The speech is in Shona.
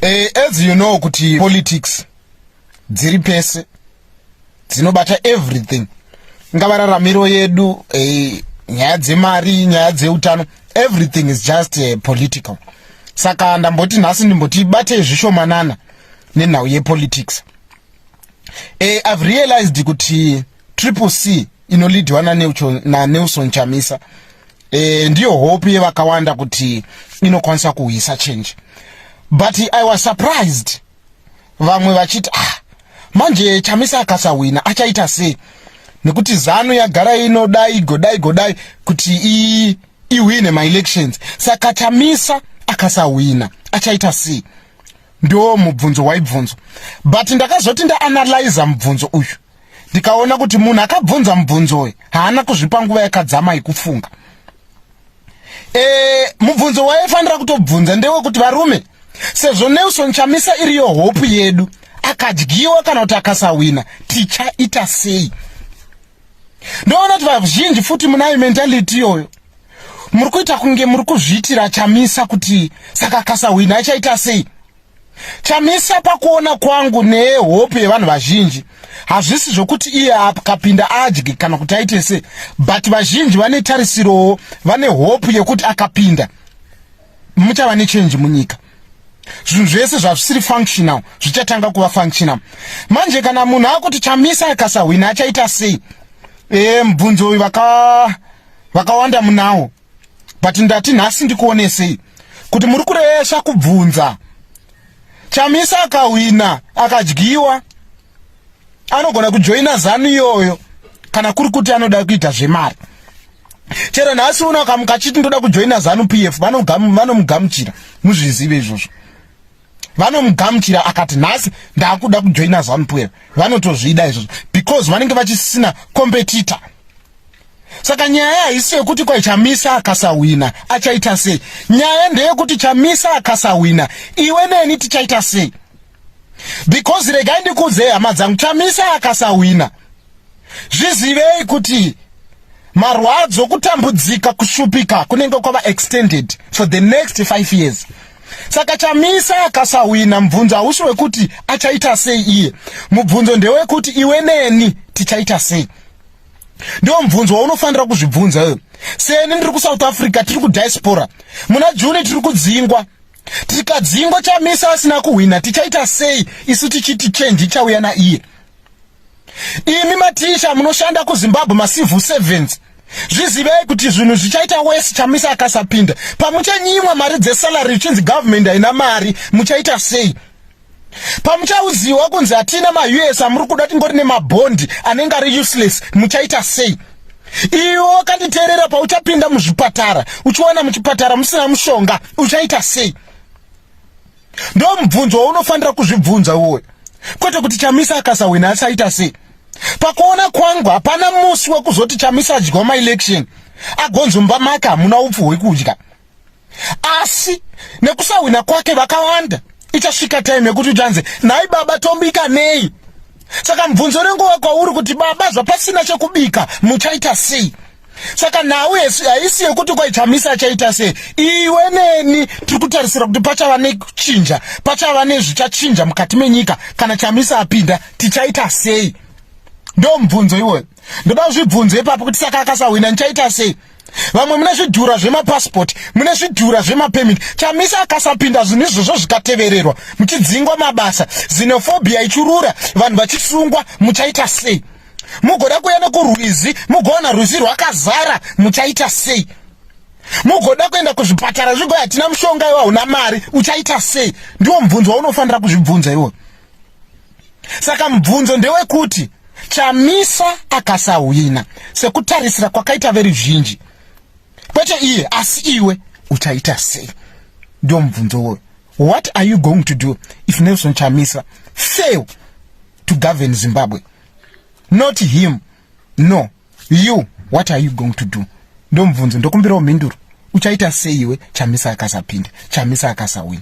Eh, as you know kuti politics dziri pese dzinobata everything ingava raramiro yedu eh, nyaya dzemari nyaya dzeutano everything is just eh, political saka ndamboti nhasi ndimbotibatei zvishomanana nenhau yepolitics eh, i've realized kuti triple c inolidhiwa nanelson chamisa e, ndiyo hope yevakawanda kuti inokwanisa kuhwisa change but i was surprised vamwe vachiti ah manje chamisa akasahwina achaita sei nekuti zanu yagara inoda igodai godai kuti i ihwine maelections saka chamisa akasahwina achaita sei ndo mubvunzo waibvunzo but ndakazoti ndaanalyza mubvunzo uyu ndikaona kuti munhu akabvunza mubvunzo uyu haana kuzvipa nguva yakadzama yekufunga e, mubvunzo waifanira kutobvunza ndewekuti varume sezvo nelson chamisa iriyo hope yedu akadyiwa kana kuti akasahwina tichaita sei ndoona kuti vazhinji futi munayo mentality iyoyo muri kuita kunge muri kuzviitira chamisa kuti saka akasahwina achaita sei Chamisa pakuona kwangu nehope yevanhu vazhinji hazvisi zvokuti iye akapinda adye kana kuti aite se but vazhinji vane tarisirowo vane hope yekuti akapinda muchava nechenji munyika zvinhu zvese zvazvisiri functional zvichatanga kuva functional manje kana munhu akuti chamisa akasahwina achaita sei e mubvunzo uyu vakawanda munawo but ndati nhasi ndikuonesei kuti muri kuresva kubvunza chamisa akahwina akadyiwa anogona kujoina zanu iyoyo kana kuri kuti anoda kuita zvemari chero nhasi uno akamuka achiti ndoda kujoina zanu p f vanomugamuchira muzvizive izvozvo vanomugamuchira akati nhasi ndaakuda kujoina zanupuer vanotozvida izvozvo because vanenge vachisina competitor saka nyaya haisi yekuti kwai chamisa akasahwina achaita sei nyaya ndeyekuti chamisa akasahwina iwe neni tichaita sei because regai ndikuudzei hama dzangu chamisa akasahwina zvizivei kuti marwadzo kutambudzika kushupika kunenge kwava extended for the next five years saka chamisa akasahwina mubvunzo hausi wekuti achaita sei iye mubvunzo ndewekuti iwe neni tichaita sei ndiwo mubvunzo waunofanira kuzvibvunza iwe seni ndiri kusouth africa tiri kudiaspora muna juni tiri kudzingwa tikadzingwa chamisa asina kuhwina tichaita sei isu tichiti chenji chauya naiye imi maticha munoshanda kuzimbabwe macivil servants zvizivei kuti zvinhu zvichaita wese chamisa akasapinda pamuchanyimwa mari dzesalary zvichinzi government haina mari muchaita sei pamuchauziwa kunzi hatina maus amuri kuda tingori nemabhondi anenge ari useless muchaita sei iwo kanditeerera pauchapinda muzvipatara uchiwana muchipatara musina mushonga uchaita sei ndo mubvunzo waunofanira kuzvibvunza uwoyo kwete kuti chamisa akasahwina asaita sei pakuona kwangu hapana musi wekuzoti chamisa adyiwa maelection agonzi mba make hamuna upfu hwekudya asi nekusahwina kwake vakawanda ichasvika time yekuti uchanzi nhai baba tombika nei saka mubvunzo renguva kwauri kuti baba zvapasina chekubika muchaita sei saka nhau haisi yekuti kwai chamisa achaita sei iwe neni tiri kutarisira kuti pachava nechinja pachava nezvichachinja mukati menyika kana chamisa apinda tichaita sei ndo mubvunzo iwoyo ndoda kuzvibvunzo ipapo kuti saka akasahwina ndichaita sei vamwe mune zvidhura zvemapasipoti mune zvidhura zvemapemiti chamisa akasapinda zvinhu izvozvo zvikatevererwa muchidzingwa mabasa zinofobia ichurura vanhu vachisungwa muchaita sei mugoda kuenda kurwizi mugoona rwizi rwakazara muchaita sei mugoda kuenda kuzvipatara zvigo hatina mushonga iwe hauna mari uchaita sei ndiwo mubvunzo waunofanira kuzvibvunza iwo saka mubvunzo ndewekuti chamisa akasahwina sekutarisira kwakaita veri zhinji kwete iye asi iwe uchaita sei ndiwo mubvunzo woyo what are you going to do if nelson chamisa fail to govern zimbabwe not him no you what are you going to do ndomubvunzo ndokumbirawo mhinduro uchaita seiwe chamisa akasapinda chamisa akasawina